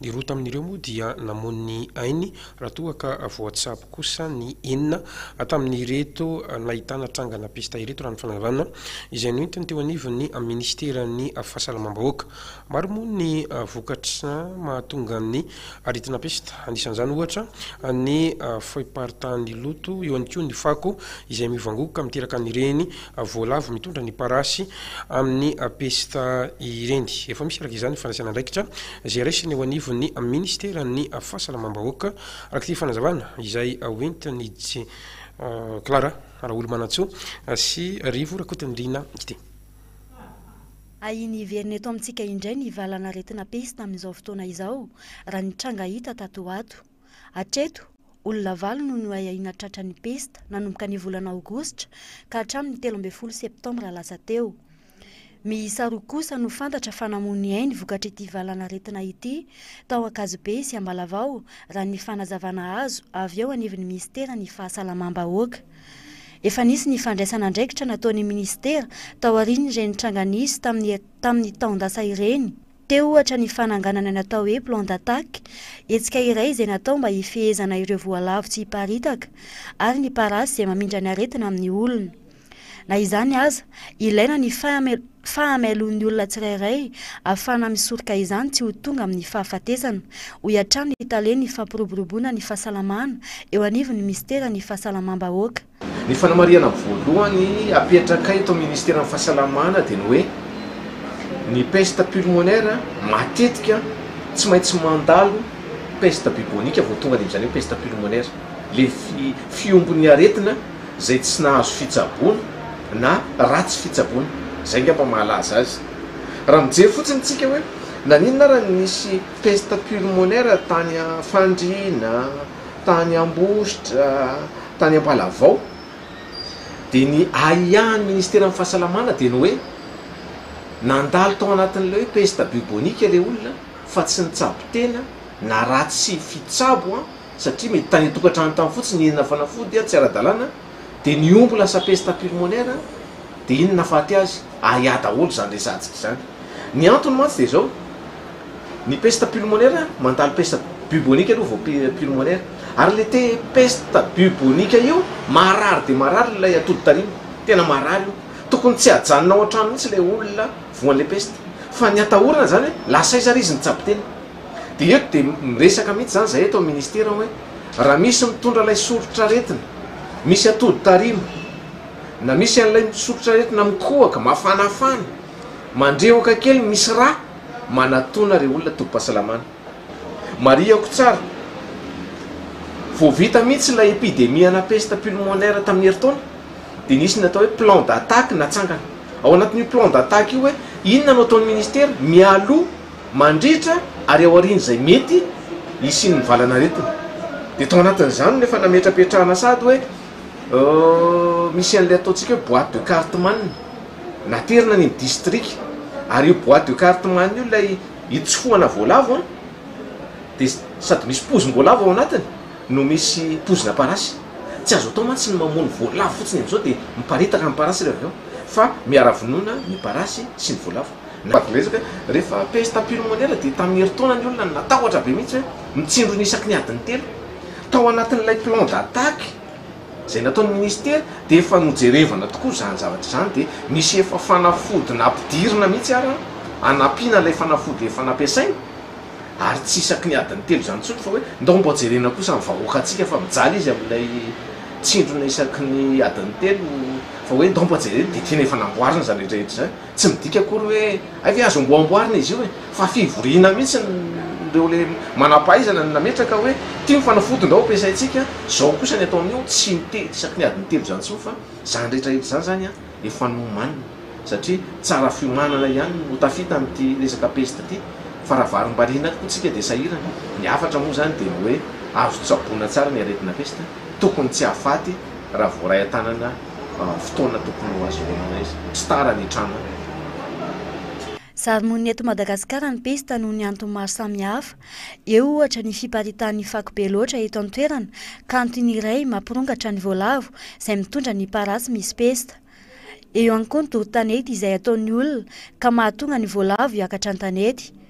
Ny roa tamin'ireo moa dia namono ny ainy raha toa ka voatsabo kosa ny enina tamin'ireto nahitana trangana pesta ireto raha ny fanazavana izay noentiny teo anivon'ny minisiteran'ny fahasalamam-bahoaka. Maro moa ny vokatra mahatonga ny aretina pesta, anisan'izany ohatra ny fahiparitahan'ny loto, eo ihany koa ny fako izay mivangoka miteraka an'ireny voalavo mitondra ny parasy amin'ny pesta ireny. Efa misy araka izany ny fandraisana andraikitra izay raisina eo anivon'ny minisiteran'ny Fahasalamam-bahoaka, araka ity fanazavana izay hoentin'i Clara Raholomanantsoa sy Rivo Rakotonirina ity. Ahiany hiverina eto amintsika indray ny valan'aretina pesta amin'izao fotoana izao, raha ny tranga hita tato ho ato. Hatreto, olona valo no noahiahiana tratra ny pesta, nanomboka ny volana aogositra ka hatramin'ny telo ambin'ny folo septambra lasa teo. Miisa roa kosa no fantatra fa namoy ny ainy vokatr'ity valanaretina ity, tao Ankazobe sy Ambalavao, raha ny fanazavana azo avy eo anivon'ny minisiteran'ny Fahasalamam-bahoaka. Efa nisy ny fandraisana andraikitra nataon'ny minisitera taorian'ireny tranga nisy tamin'ny tamin'ny taon-dasa ireny. Teo ohatra ny fananganana ny atao hoe plan d'attaque, hetsika iray izay natao mba hifehezana ireo voalavo tsy hiparitaka, ary ny parasy izay mamindra ny aretina amin'ny olona. Na izany aza, ilaina ny fahamailoan'ny olona tsirairay ahafahana misoroka izany tsy ho tonga amin'ny fahafatesana, hoy hatrany ny talen'ny fampiroboroboana ny fahasalamana eo anivon'ny minisiteran'ny Fahasalamam-bahoaka. Ny fanamarihana voalohany apetraka eto amin'ny Ministeran'ny Fahasalamana dia ny hoe ny peste pulmonaire matetika tsy maintsy mandalo peste bubonique vao tonga dia amin'izany hoe peste pulmonaire. Ilay fiombon'ny aretina izay tsy nahazo fitsaboana na ratsy fitsaboana. Izay angamba mahalaza azy. Raha mijery fotsiny isika hoe naninona ary no nisy peste pulmonaire tany Fandriana, tany Ambositra, tany Ambalavao, dia ny ahiahin'ny Ministeran'ny Fahasalamana dia ny hoe nandalo tao anatin'ilay hoe peste bubonique ilay olona fa tsy nitsabo tena na raha tsy fitsabo satria mety tany an-tokantrano tany fotsiny ny henona fanafody tsy ara-dalàna, Dia ny omby lasa pesta pulmonaire dia iny nahafaty azy, ahiahy daholo izany resahantsika izany. Ny antony mantsy dia izao, ny pesta pulmonaire, mandalo pesta bubonique aloha vao pulmonaire. Ary ilay te pesta bubonique io, marary dia marary ilay atody tarimo, tena marary io. Tokony tsy hajanona ao an-trano mihitsy ilay olona voan'ilay pesta. Fa ny atahorana izany hoe, lasa aiza ary izy nitsabo tena? Dia eto dia miresaka mihitsy izany izahay eto amin'ny Ministera hoe raha misy mitondra ilay soritr'aretina misy atody tarima, na misy an'ilay soritr'aretina mikohaka, mafanafana, mandrehoka kely misy rà, manatona ireo olona tobim-pahasalamana. Marihako tsara, vao vita mihitsy ilay epidemie ana peste pulmonaire tamin'ny herintaona dia nisy ny atao hoe plan d'attaque natsangana. Ao anatin'io plan d'attaque io hoe inona no ataon'ny Ministera mialoha, Mandritra ary aorian'izay mety hisian'ny valanaretina. Dia tao anatin'izany no efa nametrapetrahana sady hoe misy an'ilay ataontsika hoe boite de cartman. Naterina ny distrika. Ary io boite de cartman io ilay itsofohana voalavo an! Dia sady misy pozim-boalavo ao anatiny no misy pozina parasy. Tsy azo atao mantsy ny mamono voalavo fotsiny amin'izao dia miparitaka ny parasy re avy eo fa miara-vonoina ny parasy sy ny voalavo. Navy miresaka, Rehefa pesta pulmonaire dia tamin'ny herintaona ny olona no natahotra be mihitsy hoe mitsindrona isaky ny adiny telo. Tao anatin'ilay plan d'attaque izay nataon'ny minisitera dia efa nojerevana tokoa izany zavatra izany dia misy efa fanafody nampidirina mihitsy ary hanampiana ilay fanafody efa nampiasaina ary tsy isaky ny adiny telo izany intsony fa hoe ndao mba jerena kosa ny vahoakantsika fa mijaly izy amin'ilay tsindrona isaky ny adiny telo fa hoe ndao mba jerena dia tena efa namboarina izany rehetra rehetra izany. Tsy midika akory hoe hay ve azo amboamboarina izy io e! fa fivoriana mihitsy ireo le manampahaizana no nametraka hoe ity ny fanafody ndao ampiasaintsika zao kosa ny atao anio tsy miteny isaky ny adiny telo zany tsony fa zany rehetra rehetra zany zany an efa nomanina satria tsara fiomanana ihany no tafita amity resaka peste ity fa raha varimbariana tokoa tsika dia sahirana ny hafatra moa zany dia ny hoe azo tsaboina tsara ny aretina peste tokony tsy hahafaty raha voaray an-tanana fotoana tokony ho azy velona izy. Tsy tara ny hitranga. Zarimonina eto Madagasikara ny pesta noho ny antony maro samihafa. Eo, ohatra, ny fiparitahan'ny fako be loatra eto an-toerana, ka antony iray mampirongatra ny voalavo izay mitondra ny parasy misy pesta. Eo ihany koa ny doro tanety izay ataon'ny olona, ka mahatonga ny voalavo hiakatra an-tanety.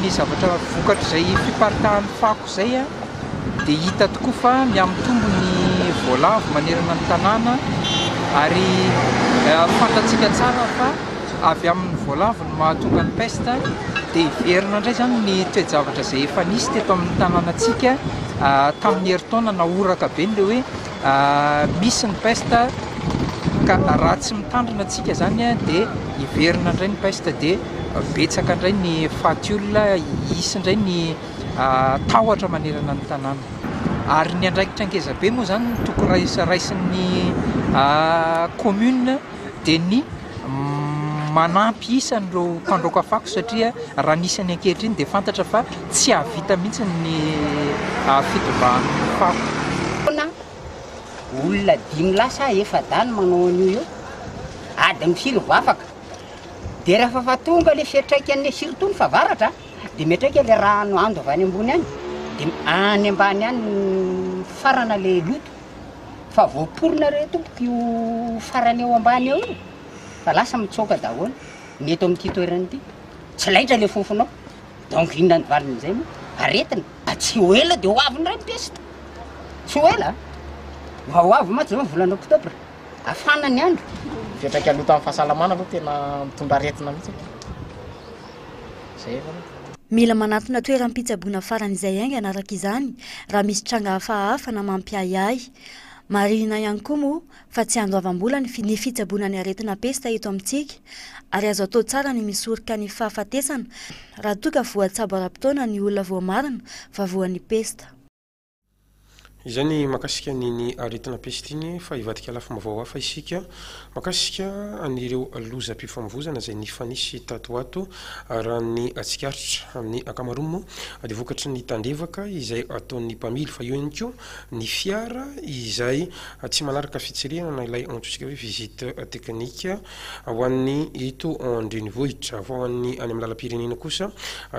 Ny zavatra vokatr'izay fiparitahan'ny fako izay dia hita tokoa fa mihamitombo ny voalavo manerana ny tanàna ary fantatsika tsara fa avy amin'ny voalavo no mahatonga ny pesta dia heverina indray izany ny toe-javatra izay efa nisy teto amin'ny tanànantsika tamin'ny herintaona nahoraka be ilay hoe Misy ny peste ka raha tsy mitandrina tsika zany dia hiverina indray ny peste dia betsaka indray ny faty olona, hisy indray ny tahotra manerana ny tanàna. Ary ny andraikitra ngezabe moa zany no tokony raisin'ny commune dia ny. manampy isa an'ireo mpandroaka fako satria raha ny isany ankehitriny dia fantatra fa tsy hahavita mihitsy ny fitondrany fako. Olona dimy lahy sa efa-dahy no manao an'io eo, ady ny silo vao afaka. Dia rehefa fa tonga ilay fiantraikan'ny surtout ny favaratra dia miantraika ilay rano ando avy any ambony any dia any ambany any mifarana ilay loto. fa voaporona re tompoko io farany eo ambany eo io fa lasa mitsoaka daholo ny eto amin'ity toerana ity tsy laitra le fofonao donc inona ny valiny izay moa aretina ah, tsy ho ela dia ho avy indray ny piesy tsy ho ela mba ho avy mantsy zao ny volana oktobra afana ny andro fiantraika loto amin'ny fahasalamana aloha tena mitondra aretina mihitsy Mila manatona toeram-pitsaboana faran'izay haingana araka izany raha misy tranga hafahafa na mampiahiahy. Marihina ihany koa moa fa tsy andoavam-bola ny fitsaboana ny aretina pesta eto amintsika ary azo atao tsara ny misoroka ny fahafatesana raha toa ka voatsabo ara-potoana ny olona voamarina fa voan'ny pesta. Izay ny makasika an'iny aretina peste iny fa hivadika lafim-baovao hafa isika makasika an'ireo lozam-pifamovoizana izay nifanisy tato ho ato raha ny tsikaritra amin'ny ankamaroany moa dia vokatry ny tandrevaka izay ataon'ny mpamily fa eo ihany koa ny fiara izay tsy manaraka fitsirihana na ilay antsointsika hoe visite technique Ho an'ny eto an-drenivohitra. Fa ho an'ny any amin'ny lalam-pirenena kosa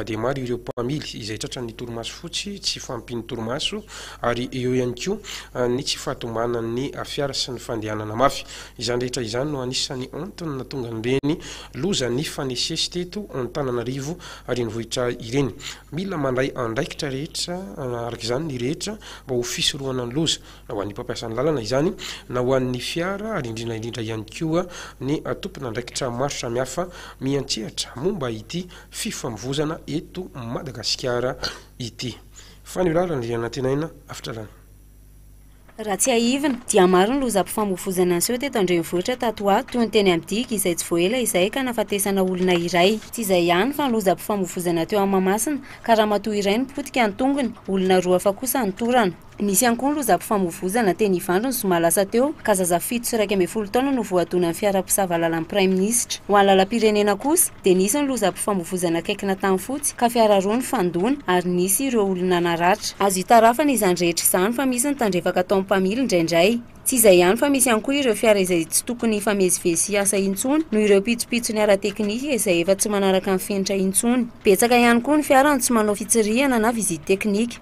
dia maro ireo mpamily izay tratran'ny torimaso fotsy, tsy fahampian'ny torimaso ary eo ihany koa ny tsy fahatombanan'ny fiara sy ny fandehanana mafy. Izany rehetra izany no anisan'ny antony nahatonga an'ireny loza nifanesisesy teto Antananarivo renivohitra ireny. Mila mandray andraikitra rehetra araka izany ny rehetra mba ho fisorohana ny loza. na ho an'ny mpampiasan'ny lalana izany na ho an'ny fiara, ary indrindra indrindra ihany koa ny tompon'andraikitra maro samihafa miantsehatra momba ity fifamovoizana eto Madagasikara ity. Fa ny lalana dia nantenaina afitralana. Raha tsiahivina, dia maro ny lozam-pifamovoizana niseho teto an-drenivohitra tato ho ato, toy ny teny amin'ny digy, izay tsy vao ela izay ka nahafatesana olona iray. Tsy izay ihany, fa ny lozam-pifamovoizana teo amin'ny Mahamasina, ka ramatoa iray no potika ny tongony, olona roa hafa kosa no torana. Nisy ihany koa ny lozam-pifamoivoizana teny Ivandry ny zoma lasa teo ka zaza fito sy iraika ambin'ny folo taona no voadonan'ny fiara mpisava làlan'ny Praiminisitra. Ho an'ny lalam-pirenena kosa dia nisy ny lozam-pifamoivoizana akaiky na tany fotsy ka fiara roa nifandona ary nisy ireo olona naratra. Azo itarafana izany rehetra izany fa misy ny tandrefaka ataon'ny mpamily indraindray. Tsy izay ihany fa misy ihany koa ireo fiara izay tsy tokony hifamezivezy sy hiasa intsony noho ireo pitsopitsony ara-teknika izay efa tsy manaraka ny fenitra intsony. Betsaka ihany koa ny fiara no tsy manao fitsirihana na visite technique.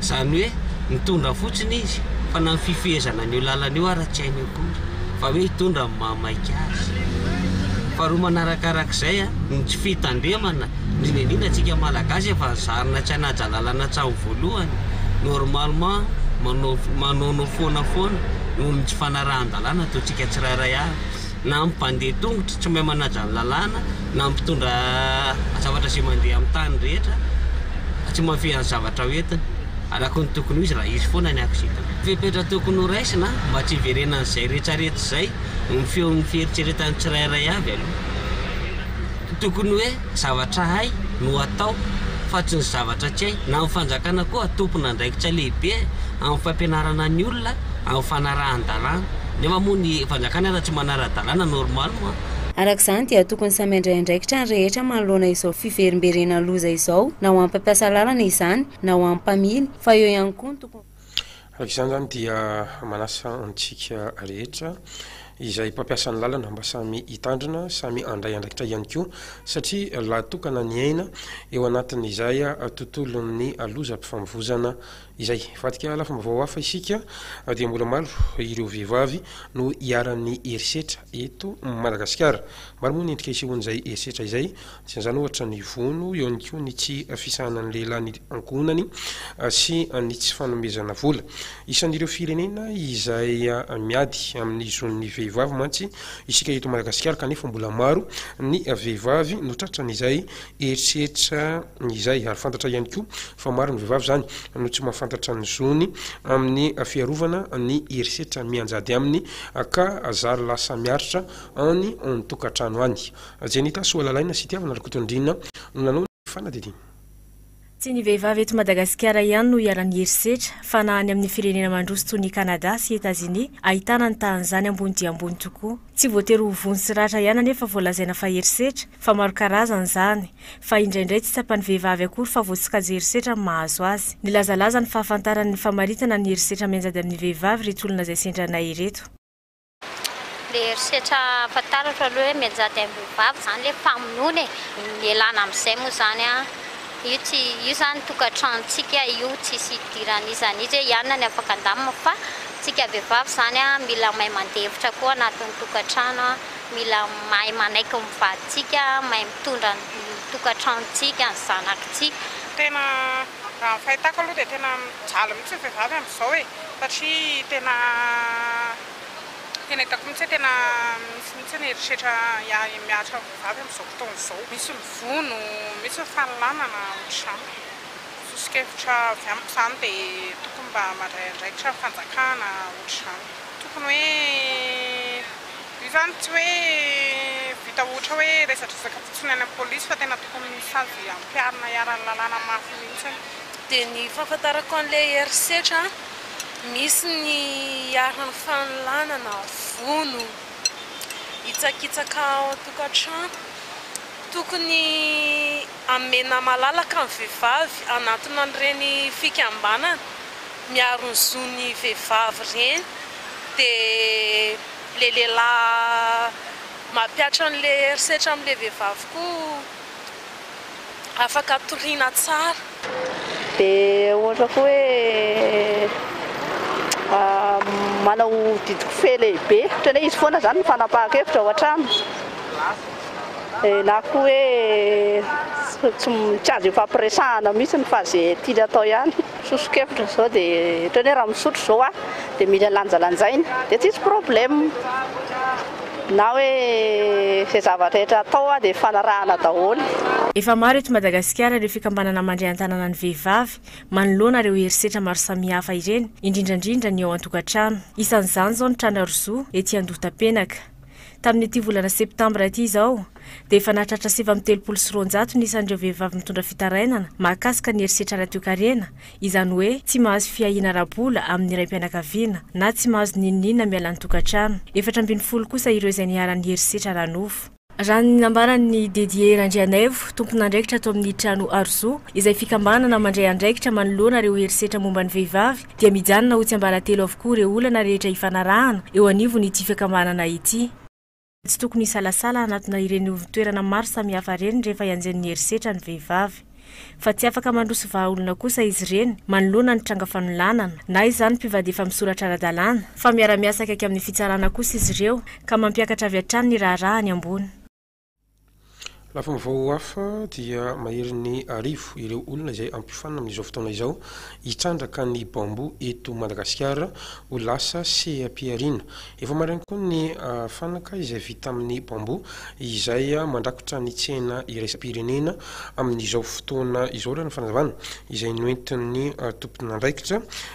Izany hoe mitondra fotsiny izy fa na ny fifehezana an'io lalana io ara tsy hainy akory fa hoe hitondra ny maha maika azy. Faharoa manarakarak'izay a, ny tsy fitandremana, indrindra indrindra antsika Malagasy efa nizarina tsy hanaja lalana hatramin'ny voalohany, normalement manao manaonao foana foana noho ny tsy fanarahan-dalàna ataontsika tsirairay avy. na amin'ny mpandeha tongotra tsy mahay manaja ny lalàna, na amin'ny mpitondra zavatra izay mandeha amin'ny tany rehetra fa tsy mahafehy ny zavatra ho entiny araka ny tokony ho izy raha hisy foana ny accident. Fepetra tokony ho raisina mba tsy hiverenan'izay retraretra izay ny feon'ny fieritreretan'ny tsirairay avy aloha. Tokony hoe zavatra hay no atao fa tsy ny zavatra tsy hay. Na ny fanjakana koa tompon'andraikitra lehibe amin'ny fampianarana ny olona amin'ny fanarahan-dalàna. Nefa moa ny fanjakana raha tsy manara-dalàna normal moa. Araka izany dia tokony samy handray andraikitra ny rehetra manoloana izao fiverimberenan'ny loza izao na ho an'ny mpampiasa lalana izany na ho an'ny mpamily fa eo ihany koa ny tokony Araka izany izany dia manasa antsika rehetra izay mpampiasa ny lalana mba samy hitandrina, samy handray andraikitra ihany koa satria lahatokana ny aina eo anatin'izay tontolon'ny lozam-pifamovoizana Izay. Hivadika lafim-baovao hafa isika dia mbola maro ireo vehivavy no iharan'ny herisetra eto Madagasikara. Maro moa ny endrika isehoan'izay herisetra izay. Anisan'izany ohatra ny vono, eo ihany koa ny tsy fisahanan'ny lehilahy ny ankohonany sy ny tsy fanomezana vola. Isan'ireo firenena izay miady amin'ny zon'ny vehivavy mantsy isika eto Madagasikara kanefa mbola maro ny vehivavy no tratran'izay Eritreritra izay, ary fantatra ihany koa fa maro ny vehivavy izany no tsy mahafantatra ny zony amin'ny fiarovana ny herisetra mianjady aminy ka zary lasa miaritra any an-tokantrano any. Jenita Soalalaina sy Tiavina Rakotondriana no nanao ny fanadihadiana. Tsy ny vehivavy eto Madagasikara ihany no iharan'ny herisetra, fa na any amin'ny firenena mandroso toy ny Canada sy Etazonia, ahitana ny tahan'izany ambony dia ambony tokoa. Tsy voatery ho vono sy ratra ihany anefa vao lazaina fa herisetra, fa maro karazany izany. Fa indraindray tsy tsapan'ny vehivavy akory fa voasokajy herisetra ny mahazo azy. Nilazalaza ny fahafantarany ny famaritana ny herisetra mianjady amin'ny vehivavy ireto olona izay sendranay ireto. Le herisetra fantaratra aloha hoe mianjady ambohibavy izany le mpamonoana e! Ialana amin'izay moa izany an! Io tsy, io izany tokantranontsika io tsisy hidiran'iza an'iza hoe ianona ny afaka handamina fa tsika vehivavy izany an mila mahay mandefitra koa anatin'ny tokantrano an! Mila mahay manaiky ny vadintsika, mahay mitondra ny tokantranontsika, ny zanakintsika. Tena, raha ny fahitako aloha dia tena mijaly mihintsy ny vehivavy amin'izao e! Satria tena tena hitako mihitsy hoe tena misy mihitsy ny herisetra mihatra amin'ny vehivavy amin'izao fotoana izao. Misy ny vono, misy ny fanolanana ohatr'izany. Soso-kevitra avy amiko izany dia tokony mba mandray andraikitra ny fanjakana ohatr'izany. Tokony hoe io izany tsy hoe vita ohatra hoe resadresaka fotsiny any amin'ny polisy fa tena tokony sazy ampiharina iharan'ny lalàna mafy mihitsy. Dia ny fahafantarako an'ilay herisetra misy ny iharan'ny fanolanana vono hitsakitsaka ao an-tokantrano. Tokony hamena malalaka ny vehivavy hanatona an'ireny fikambanana miaro ny zon'ny vehivavy ireny. Dia ilay lehilahy mampihatra an'ilay herisetra amin'ilay vehivavy koa. afaka atoriana tsara. Dia ohatra koa hoe manao didikofehy lehibe, ohatran'ny hoe izy foana izany no fanapahan-kevitra ao an-trano, na koa hoe tsy azo ifampiresahana mihitsy fa izay tiany atao ihany, soso-kevitra izao dia ohatran'ny hoe raha misotro izao aho dia mila lanjalanjaina dia tsisy problème. Na hoe izay zavatra rehetra atao dia ifanarahana daholo. Efa maro eto Madagasikara ireo fikambanana mandray an-tanana ny vehivavy manoloana ireo herisetra maro samihafa ireny, indrindra indrindra ny ao an-tokantrano. Isan'izany izao ny Trana Rozo ety Andohatapenaka. Tamin'ity volana septambra ity izao dia efa nahatratra sivy amby telopolo sy roanjato ny isan'ireo vehivavy mitondra fitarainana mahakasika ny herisetra ara-toekarena izany hoe tsy mahazo fiahiana ara-bola amin'ny raim-pianakaviana na tsy mahazo n'inon'inona miala ny tokantrano, efatra ambin'ny folo kosa ireo izay niharan'ny herisetra ara-nofo. Raha ny nambaran'i Didier Randrianaivo, tompon'andraikitra ato amin'ny trano Arozo, izay fikambanana mandray andraikitra manoloana ireo herisetra momba ny vehivavy, dia mijanona ho tsiambaratelo avokoa ireo olana rehetra ifanarahana eo anivon'ity fiakambanana ity. Tsy tokony hisalasala hanatona ireny ivon-toerana maro samihafa ireny rehefa ianjen'ny herisetra ny vehivavy. Fa tsy afaka mandroso vahaolona kosa izy ireny manoloana ny tranga fanolanana, na izany mpivady efa misoratra ara-dalàna, fa miara-miasa akaiky amin'ny fitsarana kosa izy ireo ka mampiakatra avy hatrany ny raharaha any ambony. Lafim-baovao hafa dia maherin'ny arivo ireo olona izay hampiofanina amin'izao fotoana izao hitrandraka ny bambou eto Madagasikara ho lasa seha-pihariana. Efa maraina koa ny fanaka izay vita amin'ny bambou izay mandrakotra ny tsena iraisam-pirenena amin'izao fotoana izao raha ny fanazavana izay noentin'ny tomponandraikitra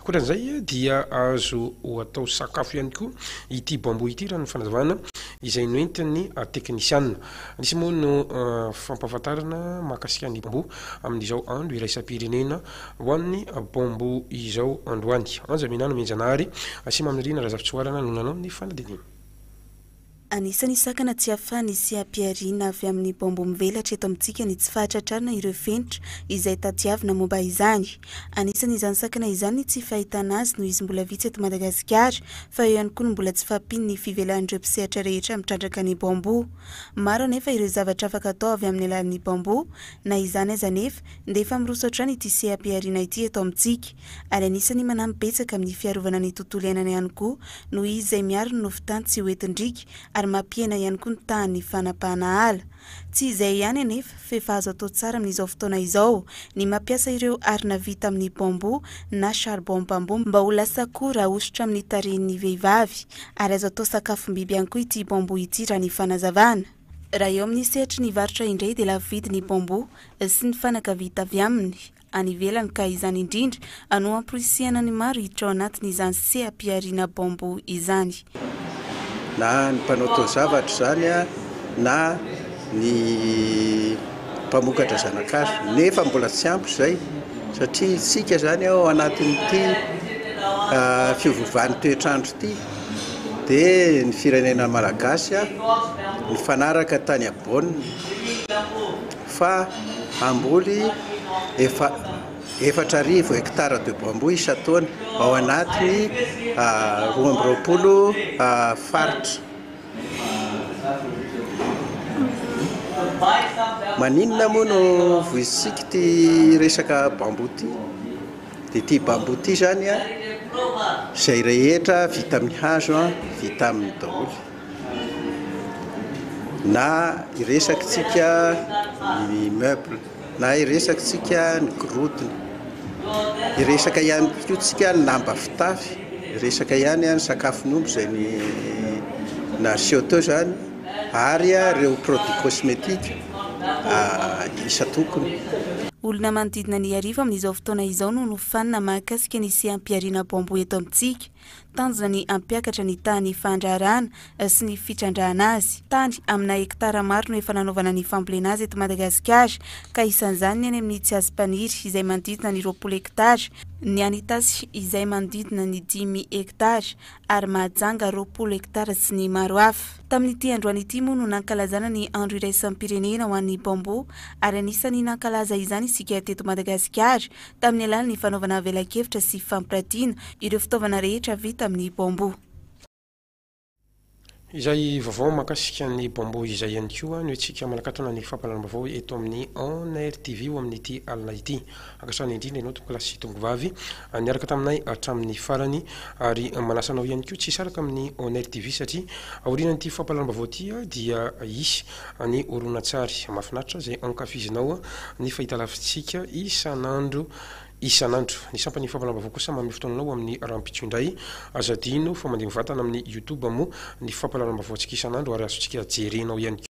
Ankoatran'izay dia azo atao sakafo ihany koa ity bambou ity raha ny fanazavana izay noentin'ny teknisiana. Nisy moa no fampahafantarana mahakasika ny bambou amin'izao andro iraisam-pirenena ho an'ny bambou izao androany. Anja Minano Mianjanahary sy Mamirina Razafintsoarana no nanao ny fanadininy. Anisan'ny sakana tsy ahafahan'ny sy hampiharihina avy amin'ny baomba mivelatra eto amintsika ny tsy fahatratrarana ireo fenitra izay tadiavina momba izany. Anisan'izany sakana izany ny tsy fahitana azy noho izy mbola vitsy eto Madagasikara fa eo ihany koa ny mbola tsy fahampian'ny fivelahan'ireo mpisehatra rehetra mitrandraka ny baomba. Maro anefa ireo zavatra afaka atao avy amin'ny alalan'ny baomba. Na izany aza anefa dia efa miroso hatrany ity seha-pihariana ity eto amintsika. ary anisan'ny manampy betsaka amin'ny fiarovana ny tontolo iainana ihany koa noho izy izay miaro ny nofon-tany tsy ho entin-driaka ary mampihena ihany koa ny tahan'ny fanapahana ala. Tsy izay ihany anefa f'efa azo atao tsara amin'izao fotoana izao ny mampiasa ireo arina vita amin'ny bambou na charbon bambou mba ho lasa akoho rahosotra amin'ny tarehin'ny vehivavy ary azo atao sakafom-biby ihany koa ity bambou ity raha ny fanazavana. Raha eo amin'ny sehatry ny varotra indray dia lafo vidy ny bambou sy ny fanaka vita avy aminy. any ivelany ka izany indrindra no hamporisihana ny maro hiditra ao anatin'izany seha-pihariana baombo izany. Na ny mpanao taozavatra izany na ny mpamokatra zana-kazo nefa mbola tsy ampy izay satria isika izany ao anatin'ity fiovovan'ny toetr'andro ity dia ny firenena malagasy nifanaraka tany Bonn fa hamboly efa efatra arivo hectares de bambou isan-taona ao anatin'ny roa amby roapolo faritra. Maninona moa no voizintsika ity resaka bambou ity? Dia ity bambou ity izany an, izay rehetra vita amin'ny hazo an, vita aminy daholo. Na iresakintsika ny meuble, na iresakintsika ny gorodona, iresaka ihany koa tsika ny lamba fitafy, iresaka ihany ny sakafon'omby izay ny naseho teo izany ary ireo produits cosmetiques isan-tokony. Olona manodidina ny arivo amin'izao fotoana izao no nofanina mahakasika ny seha-pihariana bamboa eto amintsika. Tanjona ny hampiakatra ny tahan'ny fahandraharahana sy ny fitrandrahana azy. Tany amina hektara maro no efa nanaovana ny fambolena azy eto Madagasikara ka isan'izany ny any amin'ny Tsiazimpaniry izay manodidina ny roapolo hektara, ny any Itasy izay manodidina ny dimy hektara ary Mahajanga roapolo hektara sy ny maro hafa. Tamin'ity androany ity moa no nankalazana ny andro iraisam-pirenena ho an'ny Bamboo ary anisan'ny nankalaza izany isika teto Madagasikara tamin'ny alalan'ny fanaovana velakevitra sy fampiratiana ireo fitaovana rehetra vita amin'ny bambou. Izay vaovao mahakasika ny bambou izay ihany koa no hetsika manakatona ny fampahalalam-baovao eto amin'ny On Air TV ho amin'ity alina ity. Ankasitrahana indrindra ianao tompokolahy sy tongovavy niaraka taminay hatramin'ny farany ary manasa anao ihany koa tsy hisaraka amin'ny On Air TV satria aorian'ity fampahalalam-baovao ity dia hisy Ny horonantsary mahafinaritra izay ankafizinao ny fahitalavitsika isan'andro isan'andro. Ny sampan'ny Fampanambaovao kosa manome fotoananao amin'ny rahampitso indray. Aza adino fa mandeha mivantana amin'ny YouTube moa ny fampahalalam-baovaontsika isan'andro ary azontsika jerena ao ihany koa.